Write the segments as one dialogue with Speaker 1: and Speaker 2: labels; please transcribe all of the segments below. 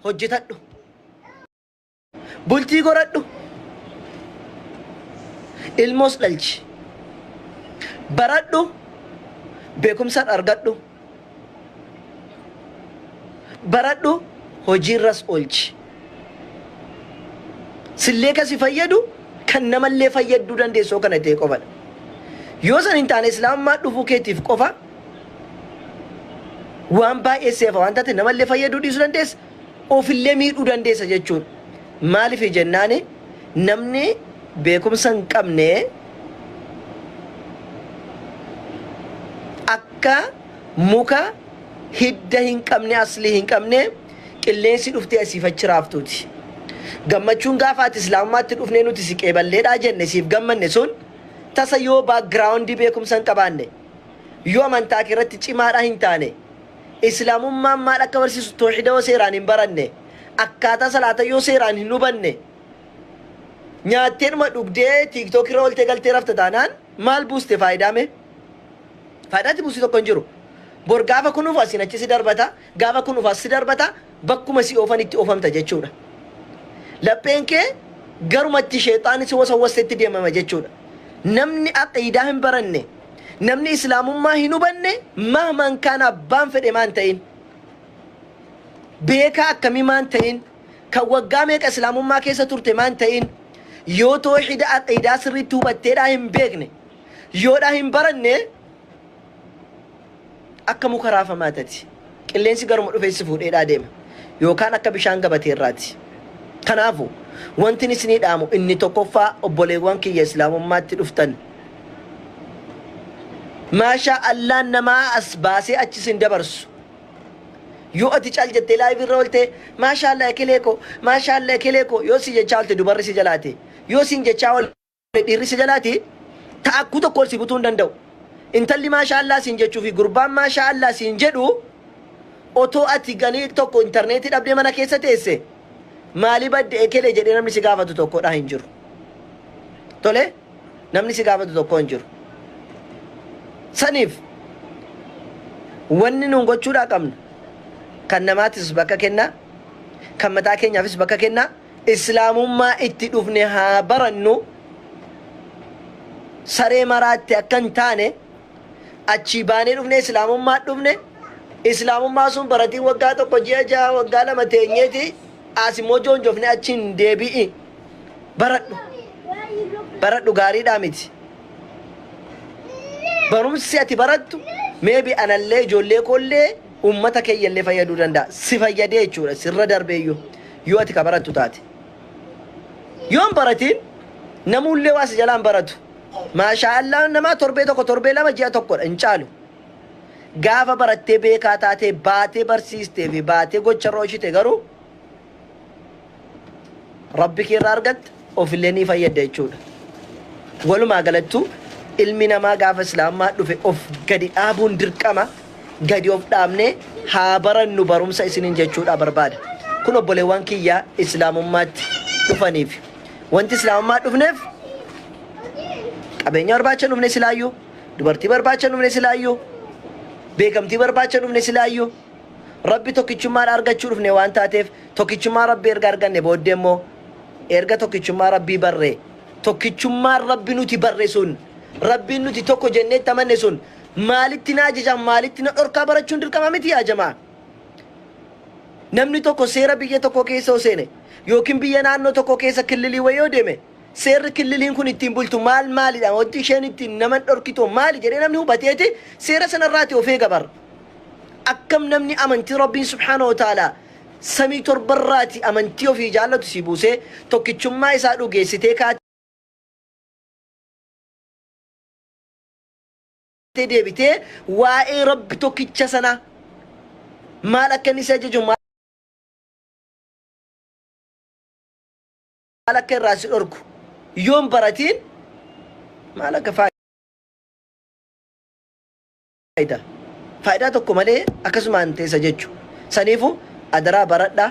Speaker 1: hojjetadhu bultii goradhu ilmoos dhalchi baradhu beekumsaan argadhu baradhu hojiirras oolchi. Sillee kasi fayyadu kan namallee fayyadduu dandeessoo kana ta'e qofadha. Yoo san hin taane islaamummaa dhufuu keetiif qofa waan baay'ee seefa waan taate namallee fayyaduu dhiisuu dandeessa. ofillee miidhuu dandeessa jechuudha. Maaliif jennaan namni beekumsa hin qabne akka muka hidda hin qabne aslii hin qabne qilleensi dhuftee asiif achi raaftuuti. Gammachuun gaafa ati islaamummaatti dhufnee nuti si qeeballeedhaa jenne siif gammanne sun tasa yoo background beekumsa hin qabaanne yoo amantaa kee irratti cimaadhaa hin taane Islaamummaan maal akka barsiisu toohida yoo seeraan hin baranne, akkaataa salaata yoo seeraan hin hubanne, nyaatteedhuma dhugdee TikTok irra oltee galtee rafta taanaan maal buuste faayidaa mee? Faayidaa itti buuste tokko hin jiru. Bor gaafa kunuuf asiin achi si darbata, gaafa kunuuf as si darbata, bakkuma si oofan itti oofamta jechuudha. Lapheen kee garumatti sheexaanni si wasawwastetti deemama jechuudha. Namni aqiidaa hin baranne, Namni islaamummaa hin hubanne mahmaan kaan abbaan fedhe maan ta'in. Beekaa akkamii maan ta'in. Kan waggaa meeqa islaamummaa keessa turte maan ta'in. Yoo toohida aqiidaa sirriitti hubatteedhaa hin beekne. Yoodhaa hin baranne Akka muka raafamaa tati. Qilleensi garuma dhufee si fuudheedhaa deema. Yookaan akka bishaan gabatee irraati. Kanaafu, wantin isinii dhaamu inni tokkoffaa obboleewwan kiyya Islaamummaatti dhuftan. Maashaa Allaan namaa as baasee achi sin dabarsu. Yoo ati cal jettee live irra olte maashaa Allah ekelee koo, maashaa Allah ekelee koo yoo si jechaa olte dubarri si jalaate. Yoo sin jechaa olte. Dhiirri si jalaati taakkuu tokko ol si butuu hin danda'u. Intalli maashaa Allaah siin jechuu fi gurbaan maashaa Allaah siin jedhu otoo ati ganii tokko interneetii dhabdee mana keessa teesse maali badde ekele jedhee namni si gaafatu tokko dha hin jiru. Tole namni si gaafatu tokko hin jiru. Saniif wanni nuun gochuudhaa qabnu kan namaatis bakka kennaa kan mataa keenyaafis bakka kennaa Islaamummaa itti dhufne haa barannu, saree maraatti akka hin taane, achii baanee dhufnee Islaamummaa dhufne, Islaamummaa sun baratii waggaa tokko ji'a ja'a waggaa lama teenyeeti as immoo joonjofne achi hin deebi'i. Baradhu. Baradhu gaariidhaa miti. Barumsi ati barattu meebi anallee ijoollee koollee uummata keeyyallee fayyaduu danda'a. Si fayyadee jechuudha sirra darbeeyyuu. Yoo ati ka barattu taate. Yoo hin baratiin namuullee waa si jalaa hin baratu. Maashaa Allaah namaa torbee tokko torbee lama ji'a tokkodha hin caalu. Gaafa barattee beekaa taatee baatee barsiistee fi baatee gocharra oolchite garuu Rabbi kee irraa argatta. ofillee ni fayyadda jechuudha. Walumaa galattu ilmi namaa gaafa islaamummaa dhufe of gadi dhaabuun dirqama gadi of dhaabnee haa barannu barumsa isiniin jechuudhaa barbaada. Kun obboleewwan kiyya islaamummaatti dhufaniif. Wanti islaamummaa dhufneef qabeenya barbaacha hin dhufne silaayyuu, dubartii barbaacha hin dhufne silaayyuu, beekamtii barbaacha hin dhufne silaayyuu, rabbi tokkichummaadha argachuu dhufne waan taateef tokkichummaa rabbi erga arganne booddee immoo Erga tokkichummaa Rabbii barree, tokkichummaan Rabbi nuti barre sun, Rabbiin nuti tokko jennee itti amanne sun maalitti na ajaja, maalitti na dhorkaa barachuun dirqama miti yaa jamaa. Namni tokko seera biyya tokkoo keessa yoo seene yookiin biyya naannoo tokkoo keessa killilii wayii yoo deeme seerri killiliin kun ittiin bultu maal maalidha? Wanti isheen ittiin naman dhorkitu maali jedhee namni hubateeti seera sanarraati of eega bar. Akkam namni amantii Rabbiin subhaanahu wa ta'aalaa samii torbarraati amantii ofii jaallatu sii buusee tokkichummaa isaa dhugeessitee kaatee deebitee waa'ee rabbi tokkicha sanaa maal akka inni si ajaju maal akka irraa si dhorku yoon baratiin maal akka faayda faayidaa tokko malee akkasumaan teessa jechu saniifu adaraa baradha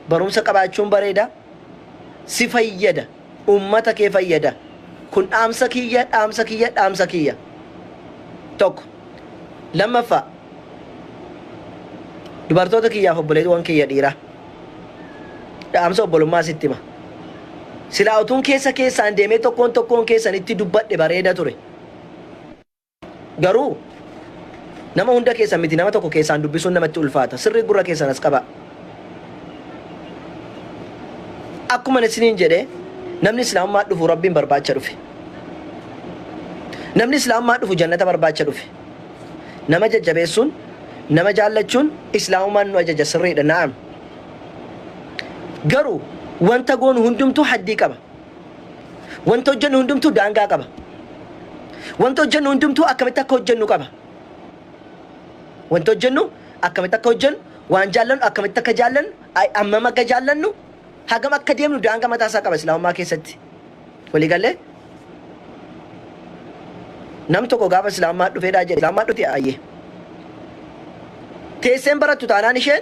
Speaker 1: barumsa qabaachuun bareeda si fayyada ummata kee fayyada kun dhaamsa kiyya dhaamsa kiyya dhaamsa kiyya tokko lammaffaa dubartoota kiyyaaf obboleewwan kiyya dhiiraa dhaamsa obbolummaa sitti hima silaa utuun keessa keessaan deemee tokkoon tokkoon keessanitti dubbadhe bareeda ture Garuu nama hunda keessan miti nama tokko keessaan dubbisuun namatti ulfaata. Sirrii gurra keessan as qabaa. Akkuma isiniin jedhe namni islaamummaa dhufu rabbiin barbaacha dhufe. Namni islaamummaa dhufu jannata barbaacha dhufe. Nama jajjabeessuun nama jaallachuun islaamummaan nu ajaja sirriidha na'am. Garuu wanta goonu hundumtuu haddii qaba. Wanti hojjennu hundumtuu daangaa qaba. Wanti hojjennu hundumtuu akkamitti akka hojjennu qaba. Wanti hojjennu akkamitti akka hojjennu, waan jaallannu akkamitti akka jaallannu, ay- hammam akka jaallannu, hagam akka deemnu daangaa mataa isaa qaba Islaamummaa keessatti. Walii gallee? Nam tokko gaafa Islaamummaa dhufeedhaa jedhe Islaamummaa dhufte ayyee. Teesseen barattu taanaan isheen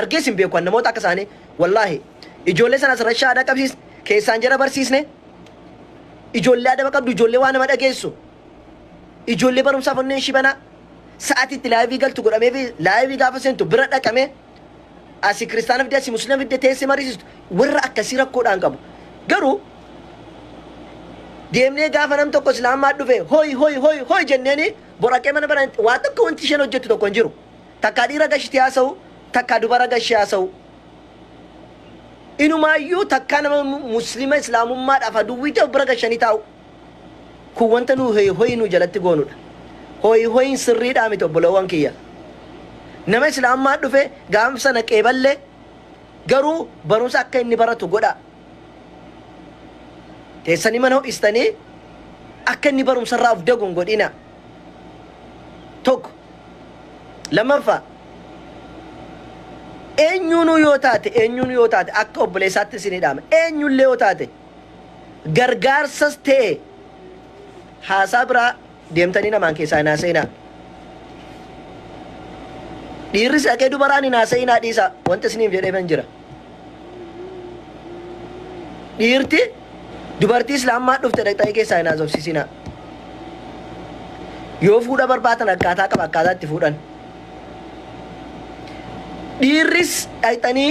Speaker 1: argees hin beeku an namoota akka isaanii wallaahi ijoollee sanas rashaa dhaqabsiis keessaan jara barsiisne ijoollee adaba qabdu ijoollee waa nama dhageessu ijoollee barumsaaf onneen ishii banaa sa'atii itti laayivii galtu godhamee fi laayivii gaafa seentu bira dhaqamee asii kiristaana fidde asii musliima fidde teessee mariisistu warra akkasii rakkoodhaan qabu garuu deemnee gaafa nam tokko islaamaa dhufe hoy hoy hoy hoy jenneeni boraqee mana baran waa tokko wanti isheen hojjettu tokko hin jiru Takkaa dhiira gashitee haasa'u, takkaa dubara gashee haasa'u. Inumaayyuu takkaa nama Muslima Islaamummaadhaaf aduwwii ta'e of bira gashanii taa'u. Kun wanta nu hoyi hoyi nu jalatti goonudha. Hoyi hoyiin sirriidhaa miti obbolawwan kiyya. Nama Islaamummaan dhufe gaaf sana qeeballe garuu barumsa akka inni baratu godhaa. Teessanii mana ho'istanii akka inni barumsarraa of dagu hin godhinaa. tokko. Lammaffaa eenyuunuu yoo taate eenyuun yoo taate akka obboleessaatti isin hidhaama eenyullee yoo taate gargaarsas ta'e haasaa biraa deemtanii namaan keessaa hin haasa'inaa. Dhiirris haqee dubaraan hin haasa'inaa dhiisaa wanta isiniif jedheefan jira. Dhiirti dubartii islaammaa dhufte dhaqxanii keessaa hin haasofsiisinaa. Yoo fuudha barbaatan akkaataa qaba akkaataa itti fuudhan. Dhiirris dhaqxanii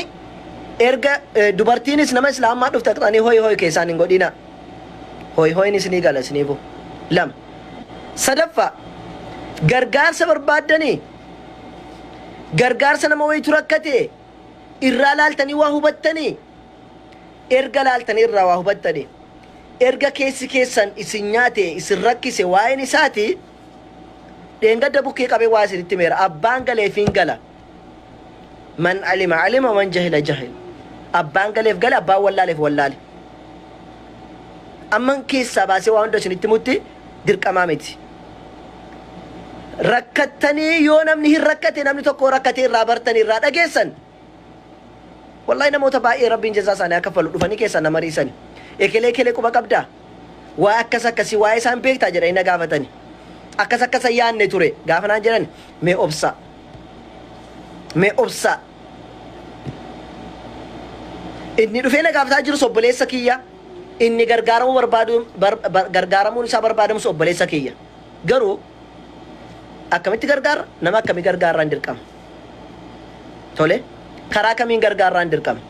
Speaker 1: erga eh, dubartiinis nama islaammaa dhufte dhaqxanii hoy hoy keessaan hin godhinaa. Hoy hoyin isinii gala isiniifu. Lama. Sadaffaa gargaarsa barbaaddanii gargaarsa nama wayitu rakkate Irraa laaltanii waa hubattanii? Erga laaltanii irraa waa hubattanii? Erga keessi keessan isin nyaate, isin rakkise waa'een isaati. Dheengadda bukkee qabee waa isinitti himeera. Abbaan galeef hin gala. Man alima alima man jahila jahil. Abbaan galeef gale, abbaan wallaaleef wallaale. Amman keessaa baasee waa hunda isinitti himutti dirqamaa miti. rakkattanii yoo namni hin rakkate namni tokko rakkatee irraa bartanii irraa dhageessan wallahi namoota baay'ee rabbiin jazaa isaanii akka falu dhufanii keessaa nama riisani ekelee ekelee quba qabdaa waa akkas akkasii waa'ee isaan beektaa jedhanii na gaafatanii akkas akkasa yaanne ture gaafa naan jedhan mee obsaa mee obsaa inni dhufee na gaafataa jiru obboleessa kiyya Inni gargaaramuu barbaadu, bar, bar, gargaaramuun isaa barbaadamus obboleessa kiyya. Garuu akkamitti gargaarra? Nama akkamii gargaarraan dirqama? Tole, karaa kamiin gargaarraan dirqama?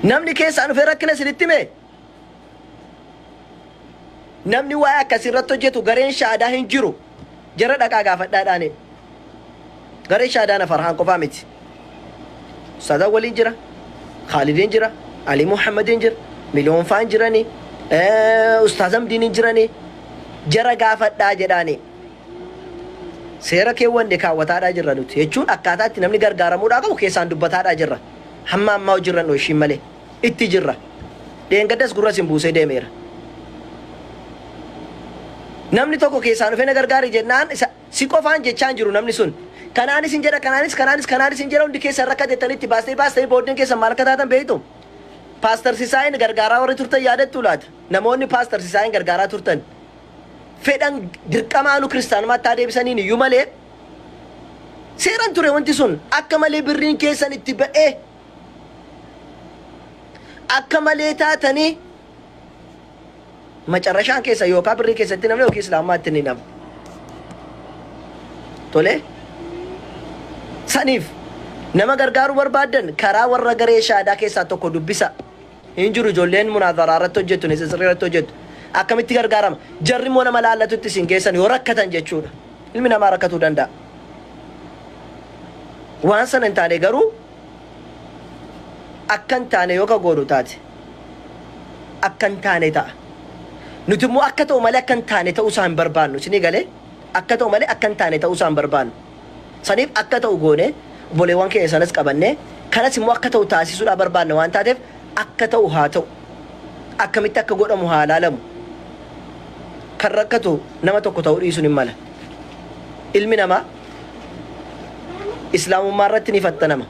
Speaker 1: Namni keessaan dhufee rakkina isinitti himee? Namni waa'ee akkasii irratti hojjetu gareen shaadaa hin jiru. Jara dhaqaa gaafadhaa dhaane. Gareen shaadaa na farhaan qofaa miti. Ustaazaa waliin jira. Khaalidiin jira. Alii Muhammadiin jira. Miliyoon faan jirani. Ustaaz Hamdiin jirani. Jara gaafadhaa jedhaani. Seera keewwanne kaawwataadhaa jirra nuti. Jechuun akkaataa itti namni gargaaramuudhaa qabu keessaan dubbataadhaa jirra. Hamma ammaa hojiirra hin oolchiin malee. itti jirra. Dheengaddas gurra isin buusee deemeera. Namni tokko keessaa dhufee na gargaari jennaan isa si qofaan jechaa hin jiru namni sun. Kanaanis hin jedha kanaanis kanaanis kanaanis hin jedha hundi keessan rakkatettanii itti baastanii baastanii booddeen keessan maal akka taatan beektu? Paastar Sisaayin gargaaraa warri turtan yaadattu laata? Namoonni Paastar Sisaayin gargaaraa turtan fedhan dirqamaa nu kiristaanummaatti haa deebisaniin iyyuu malee seeran ture wanti sun akka malee birriin keessan itti ba'ee akka malee taatanii macarrashaan keessa yookaan birrii keessatti namni yookiin islaamummaa itti ni namu. Tole saniif nama gargaaruu barbaaddan karaa warra garee shaadaa keessaa tokko dubbisa. Hin jiru ijoolleen munaazara irratti hojjettu, nisitsri irratti hojjettu. Akkamitti gargaarama? Jarri immoo nama laallatutti isin geessan yoo rakkatan jechuudha. Ilmi namaa rakkatuu danda'a. Waan sana hin taane garuu akka hin taane yoo ka goonu taate akka hin taane ta'a. Nuti immoo akka ta'u malee akka hin taane ta'uu isaa hin barbaannu. Isinii galee? Akka ta'u malee akka hin taane ta'uu isaa hin barbaannu. Saniif akka ta'u goonee obboleewwan keenya sanas qabannee kanas immoo akka ta'u taasisuudhaa barbaanna waan taateef akka ta'u haa ta'u. Akkamitti akka godhamu haa laalamu. Kan rakkatu nama tokko ta'uu dhiisuun hin mala. Ilmi namaa Islaamummaa irratti ni fattanama.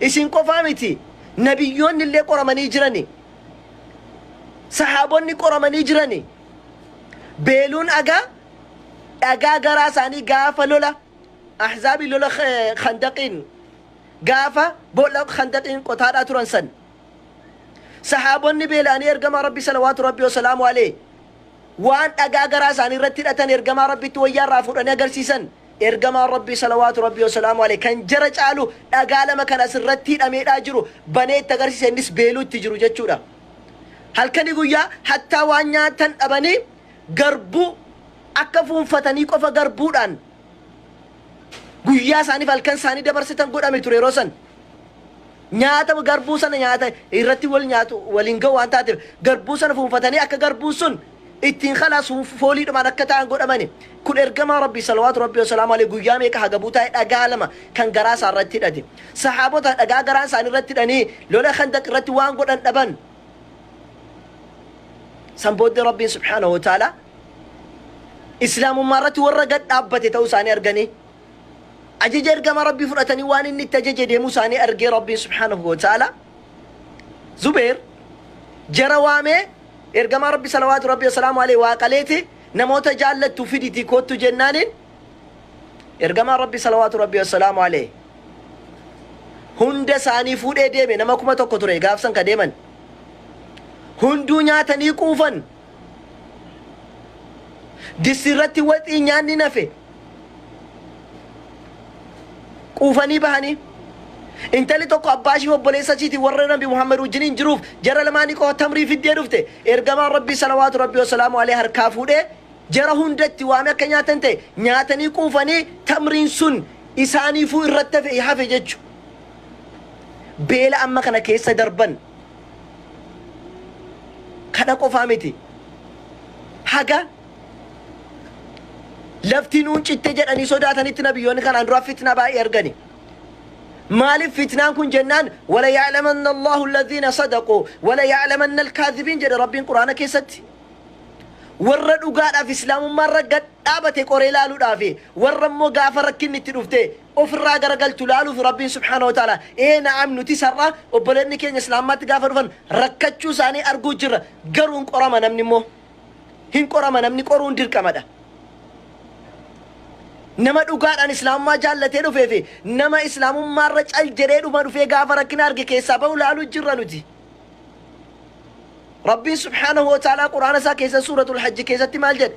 Speaker 1: Isin qofaa miti, nabiyyoonni illee qoramanii jirani. Sahaabonni qoramanii jirani. Beeluun agaa dhagaa garaa isaanii gaafa lola ahzaabii lola eh, khandaqiin gaafa boolla khandaqiin qotaadhaa turan san. Sahaabonni beela'anii ergamaa rabbi salawaatu rabbi wasalaamu alee waan dhagaa garaa isaanii irratti hidhatan ergamaa rabbitti wayyaa irraa fuudhanii agarsiisan Ergamaan Rabbii salawaatu Rabbii wasalaamu aleyh kan jara caalu dhagaa lama kan as irratti hidhameedhaa jiru banee itti agarsiise innis beeluu itti jiru jechuudha. Halkanii guyyaa hattaa waan nyaatan dhabanii garbuu akka fuunfatanii qofa garbuudhaan guyyaa isaaniif halkan isaanii dabarsitan godhame ture yeroo san. Nyaata garbuu sana nyaata irratti wal nyaatu waliin ga'u waan taateef garbuu sana fuunfatanii akka garbuun sun ittiin khalaasu fooliidhumaan akka ta'an godhamani. Kun ergamaa Rabbii salawaatu Rabbii wasalaamu alayhi guyyaa meeqa hagabuu taa'e dhagaa lama kan garaa isaa irratti hidhate. Sahaabota dhagaa garaan isaanii irratti hidhanii lola khandaq irratti waan godhan dhaban. San booddee Rabbiin subhaanahu wa ta'ala islaamummaa irratti warra gad dhaabbate ta'uu isaanii arganii. Ajaja ergama Rabbii fudhatanii waan inni itti ajaje deemuu isaanii argee Rabbiin subhaanahu wa ta'ala Zubeer jara waamee ergamaa Rabbi salawaatu Rabbi wasalaamu alee waa qaleeti namoota jaallattu fiditii koottu jennaaniin ergamaa Rabbi salawaatu Rabbi wasalaamu alee hunda isaanii fuudhee deeme nama kuma tokko ture gaafsan ka deeman hunduu nyaatanii quufan Dissi irratti waxiin nyaanni nafe quufanii bahanii intalli tokko abbaa ishii obboleessa ishiitiin warra nabi Muhammad wajjiniin jiruuf jara lamaanii qofa tamrii fiddee dhufte ergamaan rabbii salawaatu rabbii wasalaamu alee harkaa fuudhee jara hundatti waame akka nyaatan ta'e nyaatanii quufanii tamriin sun isaaniifuu irratti hafe hafe jechu beela amma kana keessa darban Kana qofaa miti. Haga lafti nuun citte jedhanii sodaatanitti nabiyyoonni kanaan dura fitnaa baay'ee argani. Maaliif fitnaan kun jennaan wala ya'lamanna Allahu alladhiina sadaqu wala ya'lamanna alkaadhibiin jedhe Rabbiin Qur'aana keessatti. Warra dhugaadhaaf islaamummaarra gad dhaabate qoree laaluudhaafi warra immoo gaafa rakkinni itti dhufte of irraa garagalchu laaluuf Rabbiin subhaanahu wa ta'aalaa, Ee na'am nutis har'a obboleetni keenya Islaamummaatti gaafa dhufan rakkachuu isaanii arguu jirra. Garuu hin qorama namni immoo. Hin qorama namni qoruun dirqamadha. Nama dhugaadhaan Islaamummaa jaallatee dhufee fi nama Islaamummaa irra cal jedhee dhuma dhufee gaafa rakkina arge keessaa bahu laaluu jirra nuti. Rabbiin subhaanahu wa ta'aalaa Qur'aana isaa keessa suuratul hajji keessatti maal jedhe?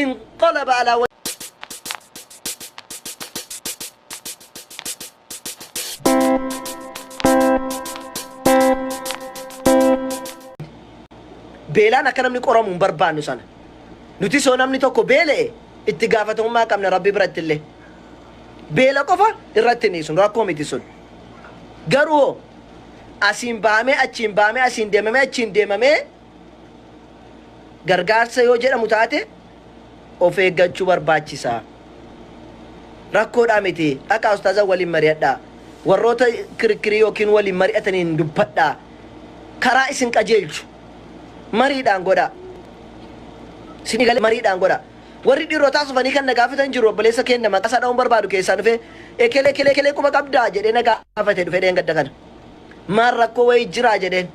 Speaker 1: inqalaba alaa beelaan akka namni qoramu hin barbaannu sana nuti soo namni tokko beela'e itti gaafatamummaa qabna rabbi biratti illee beela qofa irratti hin dhiisnu rakkoo miti sun garuu asiin baamee achiin baamee asiin deemamee achiin deemamee gargaarsa yoo jedhamu taate of eeggachuu barbaachisa. Rakkoodhaa miti dhaqaa ustaaza waliin mari'adhaa. Warroota kirikkirii yookiin waliin mari'ataniin dubbadhaa. Karaa isin qajeelchu mariidhaan godhaa. Isin galee mariidhaan godhaa. Warri dhiirotaas dhufanii kan na gaafatan jiru obboleessa keenya maqaa isaa dha'uun barbaadu keessaa dhufee ekelee ekelee ekelee quba qabdaa jedhee na gaafate dhufee dheengadda kana. Maal rakkoo wayii jiraa jedheen.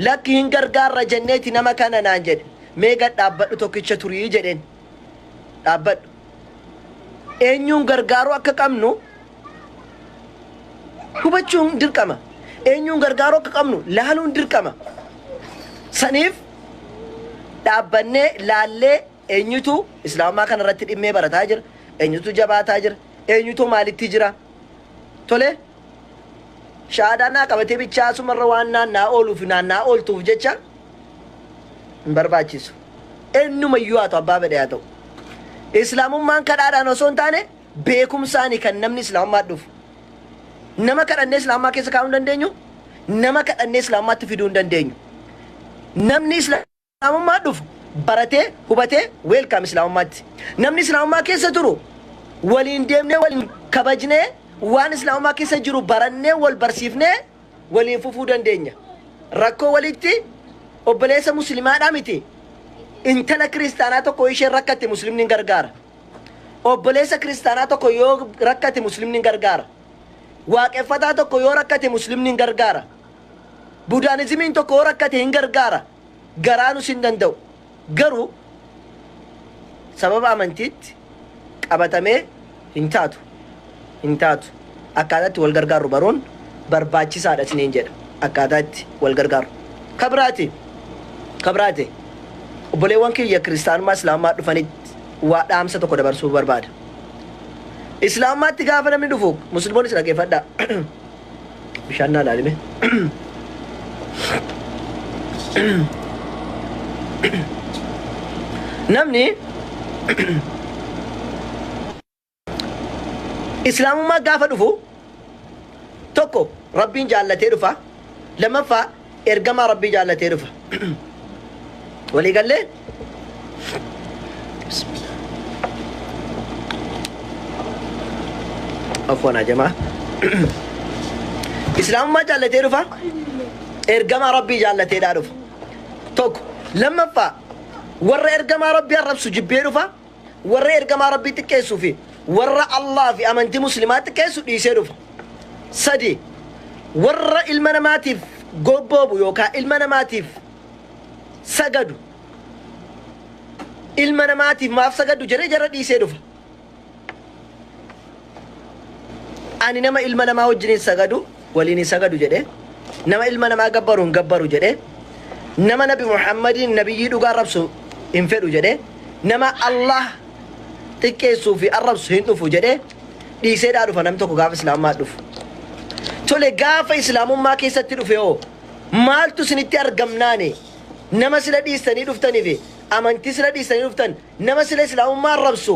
Speaker 1: Lakki hin gargaarra jenneeti nama kana naan jedhe. Mee gad dhaabbadhu tokkicha turi jedheen. Dhaabbadhu. Eenyuun gargaaruu akka qabnu hubachuun dirqama. Eenyuun gargaaruu akka qabnu laaluun dirqama. Saniif dhaabbannee laallee Eenyutu Islaamummaa kana irratti dhimmee barataa jira? Eenyutu jabaataa jira? Eenyutu maalitti jira? Tole, shahaadaa naa qabatee bichaa asuma irra waan naanna'aa ooluu fi naanna'aa ooltuuf jecha hin barbaachisu. Eenyuma iyyuu haa ta'u abbaa fedhe haa ta'u. Islaamummaan kadhaadhaan osoo hin taane beekumsaani kan namni Islaamummaa dhufu. Nama kadhannee Islaamummaa keessa kaa'uu hin dandeenyu, nama kadhannee Islaamummaatti fiduu hin dandeenyu. Namni Islaamummaa Islaamummaa dhufu baratee hubatee weelkaam islaamummaatti. Namni islaamummaa keessa turu waliin deemnee waliin kabajnee waan islaamummaa keessa jiru barannee wal barsiifnee waliin fufuu dandeenya. Rakkoo walitti obboleessa muslimaadhaa miti intala kiristaanaa tokko isheen rakkatte muslimni gargaara. Obboleessa kiristaanaa tokko yoo rakkate muslimni gargaara. Waaqeffataa tokko yoo rakkate muslimni gargaara. Budaanizimiin tokko yoo rakkate hin gargaara. garaanus hin danda'u. Garuu sababa amantiitti qabatamee hin taatu, hin taatu. Akkaataa itti wal gargaarru baruun barbaachisaa dha isiniin jedha. Akkaataa itti wal gargaarru. Ka biraati, ka biraati. Obboleewwan kiyya kiristaanummaa Islaamummaa dhufanitti waa dhaamsa tokko dabarsuu barbaada. Islaamummaatti gaafa namni dhufu, Musliimoonnis dhaggeeffadhaa. Bishaan naa laalime. Namni islaamummaa gaafa dhufu tokko rabbiin jaallatee dhufa lammaffaa Ergamaa Rabbii jaallatee dhufa. Walii gallee? Afwan ajamaa. Islaamummaa jaallatee dhufa. Ergamaa Rabbii jaallateedhaa dhufa. Tokko. Lammaffaa warra ergamaa Rabbii arrabsu jibbee dhufa. warra ergamaa rabbii xiqqeessuu fi warra Allaah fi amantii muslimaa xiqqeessu dhiisee dhufa. Sadii warra ilma namaatiif gobboobu yookaan ilma namaatiif sagadu ilma namaatiif maaf sagadu jedhee jara dhiisee dhufa. Ani nama ilma namaa wajjiniin sagadu waliin hin sagadu jedhe. Nama ilma namaa gabbaru hin gabbaru jedhe. Nama nabi Muhammadiin nabiyyii dhugaa arrabsu hin fedhu jedhe. Nama Allah xiqqeessuu fi arrabsu hin dhufu jedhe. Dhiiseedhaa dhufa namni tokko gaafa islaamummaa dhufu. Tole gaafa islaamummaa keessatti dhufe hoo maaltu isinitti argamnaani? Nama sila dhiistanii dhuftaniif amantii sila dhiistanii dhuftan nama sila islaamummaa arrabsu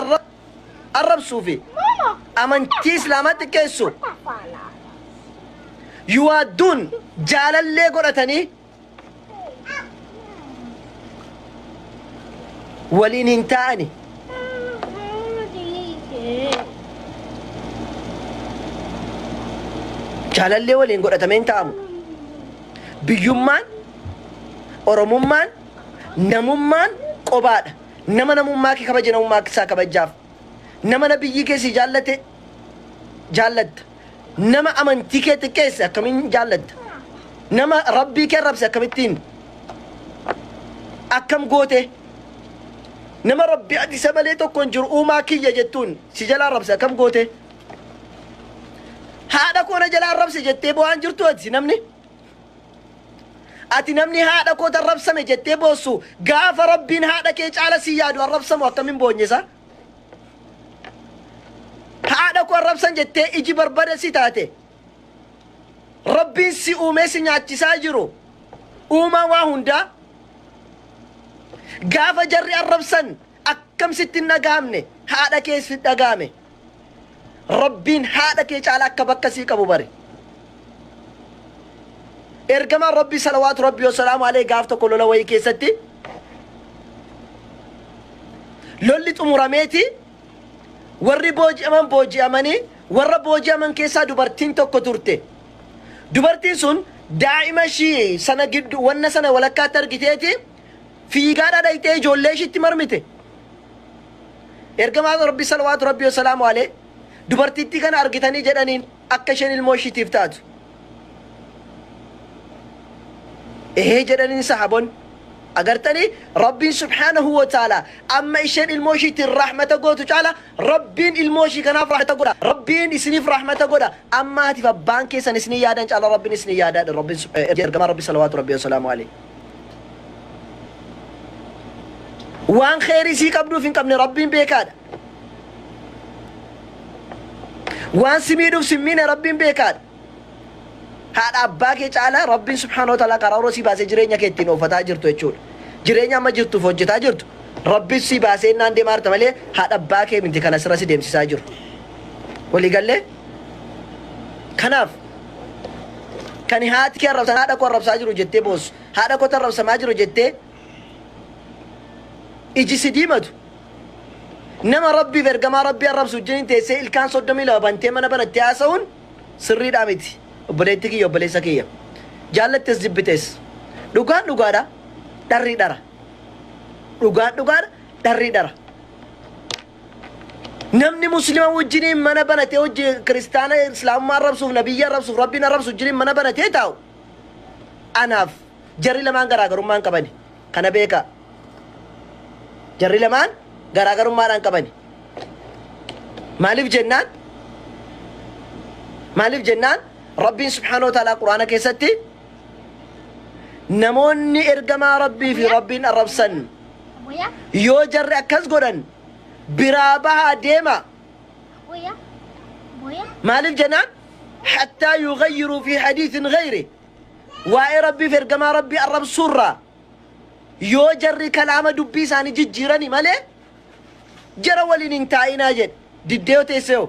Speaker 1: arra- arrabsuu fi amantii islaamaa xiqqeessu yuwaadduun jaalallee godhatanii waliin hin taa'ani jaalallee waliin godhatamee hin taa'amu biyyummaan oromummaan namummaan qobaadha Nama namummaa kee kabaje namummaa isaa kabajjaaf. Nama Nabiyyii kee sii jaallate jaallatta. Nama amantii kee xiqqeesse akkamiin jaallatta? Nama Rabbii kee arrabse akkamittiin akkam goote? Nama Rabbi ati isa malee tokko hin jiru uumaa kiyya jettuun si jalaa arrabse akkam goote? Haadha koo na jalaa arrabse jettee bo'aan jirtu ati namni Ati namni haadha kooti arrabsame jettee boossu gaafa rabbiin haadha kee caala si yaadu arrabsamu akkamin boonyesa? Haadha koo arrabsan jettee iji barbada si taate rabbiin si uumee si nyaachisaa jiru uumaa waa hundaa gaafa jarri arrabsan akkam sitti hin dhaga'amne haadha kees sitti dhaga'ame rabbiin haadha kee caala akka bakka sii qabu bari ergamaan rabbii salawaatu rabbii wasalaamu alee gaaf tokko lola wayii keessatti lolli xumurameeti warri booji'aman booji'amanii warra booji'aman keessaa dubartiin tokko turte dubartiin sun daa'ima ishii sana giddu wanna sana walakkaatti argiteeti Fiigaadhaa dhayxee ijoollee ishiitti marmite? Ergamaan Rabbii salawaatu Rabbii wasalaamu alee dubartittii kana argitanii jedhaniin akka isheen ilmoo ishiitiif taatu. Ehee jedhaniin sahabonni. Agartanii Rabbiin subhaanahu wa ta'ala amma isheen ilmoo ishiitiin rahmata gootu caala Rabbiin ilmoo ishii kanaaf rahmata godha. Rabbiin isiniif rahmata godha. Amma haatiif abbaan keessan isinii yaadan caala Rabbiin isinii yaadaadha. Rabbiin ergamaa Rabbii salawaatu Rabbii wasalaamu alee. waan kheyrii sii qabduuf hin qabne rabbiin beekaadha waan si miidhuuf sin miine rabbiin beekaadha haadha abbaa kee caalaa rabbiin subhaanahu wa ta'ala karaa sii baasee jireenya kee ittiin oofataa jirtu jechuudha jireenya amma jirtuuf hojjetaa jirtu rabbiin sii baasee innaan deemaa jirta malee haadha abbaa kee miti kana sirra si deemsisaa jiru walii gallee kanaaf Kan haati kee arrabsan haadha koo arrabsaa jiru jettee boossu. Haadha kootu arrabsamaa jiru jettee iji si diimatu. Nama rabbiif ergamaa rabbii arrabsu wajjin teessee ilkaan soddomii lama bantee mana banattee haasa'uun sirriidhaa miti. Obboleettii kiyya obboleessa kiyya. Jaallattes jibbites. Dhugaan dhugaadha. Dharri dhara. Dhugaan dhugaadha. Dharri dhara. Namni muslima wajjiniin mana banatee hojje kiristaana islaamummaa arrabsuuf nabiyyi arrabsuuf rabbiin arrabsu wajjiniin mana banatee taa'u anaaf jarri lamaan garaagarummaa hin qabani kana beekaa jarri lamaan garaagarummaadhaan qabani maaliif jennaan maaliif jennaan rabbiin subhaanahu wa ta'aalaa quraana keessatti namoonni ergamaa rabbii fi rabbiin arrabsan Yoo jarri akkas godhan biraa bahaa deemaa. Maaliif jennaan hattaa yughayyiruu fi hadiisin ghayri waa'ee rabbiif ergamaa rabbii arrabsuurraa yoo jarri kalaama dubbii isaanii jijjiirani malee jara waliin hin taa'inaa jedhe diddee yoo teessee hoo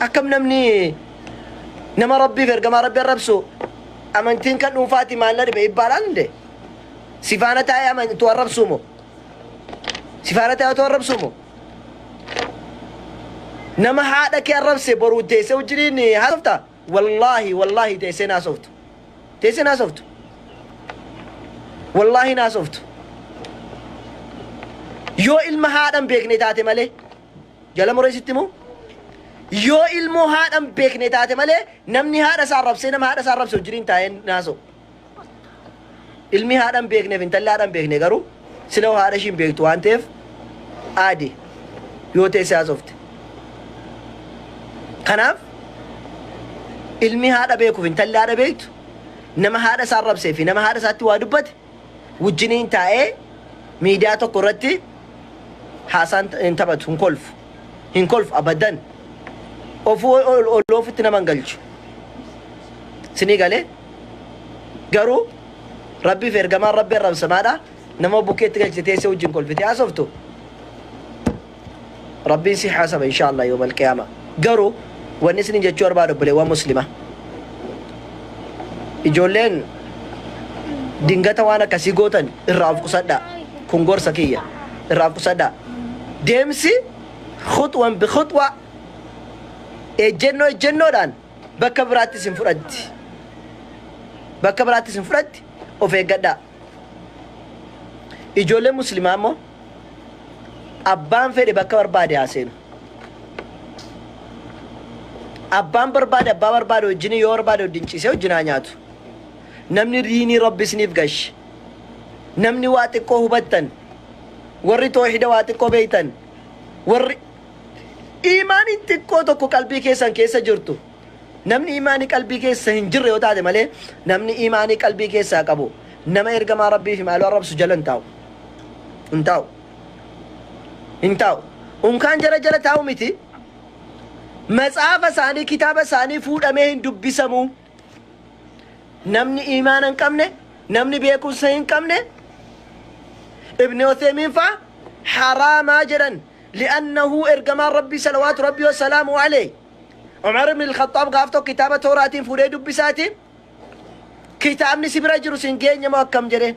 Speaker 1: akkam namni nama rabbiif ergamaa rabbi arrabsu amantiin kan dhuunfaati maal na dhibe ibbaalaan inde sifaana taa'ee amantu arrabsuu moo sifaana taa'ee otoo arrabsuu moo nama haadha kee arrabse boruu deessee wajjiniin haasofta Wallaahi wallaahi teessee hin haasoftu. Teessee hin haasoftu. Wallaahi hin haasoftu. Yoo ilma haadhan beekne taate malee jala mureessitti moo? Yoo ilmoo haadhan beekne taate malee namni haadha isaa arrabsee nama haadha isaa arrabse wajjiniin taa'ee hin haasa'u. Ilmi haadha hin beekneef intalli haadha hin beekne garuu sila haadha ishii hin beektu waan ta'eef aadi yoo teessee haasofte. Kanaaf ilmi haadha beekuuf intalli haadha beektu nama haadha isaa rabsee fi nama haadha isaatti waa dubbate wajjiniin taa'ee miidiyaa tokko irratti haasaan hin taphatu hin kolfu. hin kolfu abadan ofu olloo ofitti nama hin galchu sinii galee garuu rabbiif ergamaan rabbi arrabsamaadha nama bukkeetti galchite teessee wajjin kolfite haasoftu rabbiin si haasaba insha allah yoomal qiyaama garuu wanni isinin jechuu barbaadu obboleewwan muslima ijoolleen dingata waan akkasii gootan irraa of qusadhaa Kun gorsa kiyya. Irraa qusadhaa. Deemsi khuxwan bi khuxwa, ejjennoo ejjennoodhaan bakka biraatti isin fudhatti. Bakka biraatti isin fudhatti of eeggadhaa. Ijoolleen muslimaa immoo abbaan fedhe bakka barbaade haa seenu. Abbaan barbaade abbaa barbaade wajjin yoo barbaade wajjin ciisee wajjin haa nyaatu. Namni diinii rabbi isiniif gashe namni waa xiqqoo hubattan warri toohida waa xiqqoo beeytan warri iimaaniin xiqqoo tokko qalbii keessan keessa jirtu namni iimaanii qalbii keessa hin jirre yoo taate malee namni iimaanii qalbii keessaa qabu nama ergamaa rabbii fi maaloo arrabsu jala hin taa'u hin taa'u hin taa'u unkaan jara jala taa'u miti matsaafa isaanii kitaaba isaanii fuudhamee hin dubbisamuu namni iimaana hin qabne namni beekumsa hin qabne ibni oteemiin fa'a haraamaa jedhan li'annahu ergamaan rabbii salawaatu rabbii wasalaamu alee umar ibn ilkhaxaab gaaf tokko kitaaba tooraatiin fuudhee dubbisaati kitaabni si bira jiru sin geenye moo akkam jedheen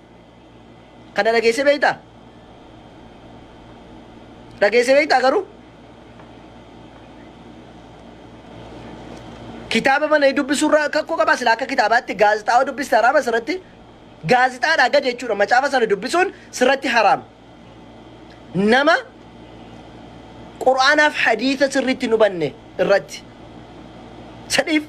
Speaker 1: Kana dhageessee beektaa? Dhageessee beektaa garuu? Kitaaba mana dubbisuurraa kakkoo qabaa sila akka kitaabaatti gaazexaawaa dubbista haraama sirratti gaazexaadhaa gadi jechuudha macaafa sana dubbisuun sirratti haraama. nama qur'aanaaf hadiisa sirriitti hin hubanne irratti sadiif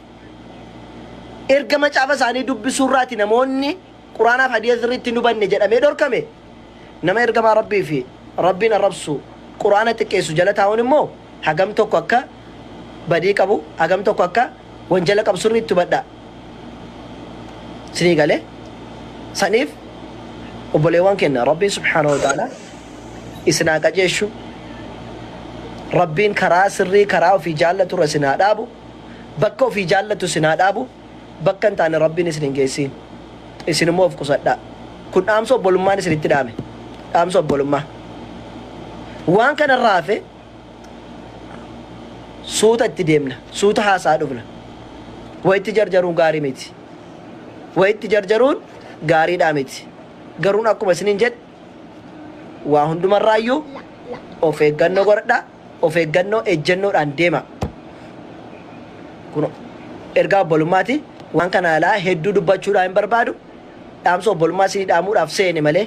Speaker 1: erga macaafa isaanii dubbisuu irraati namoonni qur'aanaaf hadiisa sirriitti hin hubanne jedhamee dhorkame nama ergamaa rabbii fi rabbiin arrabsu qur'aana xiqqeessu jala taa'uun immoo hagam tokko akka badii qabu hagam tokko akka wanjala qabu sirriitti hubadha. Sinii gale saniif obboleewwan kenna Rabbiin subhaanahu wa ta'ala isin haa qajeeshu. Rabbiin karaa sirrii karaa ofii jaallatu irra isin haa dhaabu. Bakka ofii jaallatu isin haa dhaabu. Bakka hin taane Rabbiin isin hin geessiin. Isin immoo of qusadhaa. Kun dhaamsa obbolummaan isinitti dhaame. Dhaamsa obbolummaa. Waan kanarraa hafe suuta itti deemna suuta haasaa dhufna wayitti jarjaruun gaarii miti wayitti jarjaruun gaariidhaa miti garuun akkuma isiniin jedhe waa hundumarraayyuu of eeggannoo godhadha of eeggannoo ejjennoodhaan deema kun ergaa obbolummaati waan kana alaa hedduu dubbachuudhaa hin barbaadu dhaamsa obbolummaa isinii dhaamuudhaaf seene malee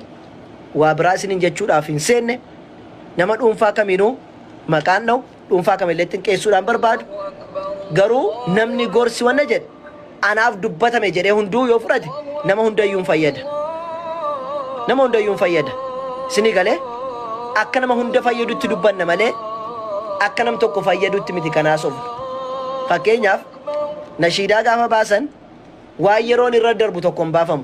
Speaker 1: waa biraa isiniin jechuudhaaf hin seenne Nama dhuunfaa kamiinuu maqaan dhahu dhuunfaa kamillee xinqeessuudhaan barbaadu garuu namni gorsi wanna jedhe anaaf dubbatame jedhee hunduu yoo fudhate nama hundayyuun fayyada nama hundayyuun fayyada isinii galee akka nama hunda fayyadutti dubbanna malee akka nam tokko fayyadutti miti kanaa sobnu fakkeenyaaf nashiidaa gaafa baasan waan yeroon irra darbu tokko hin baafamu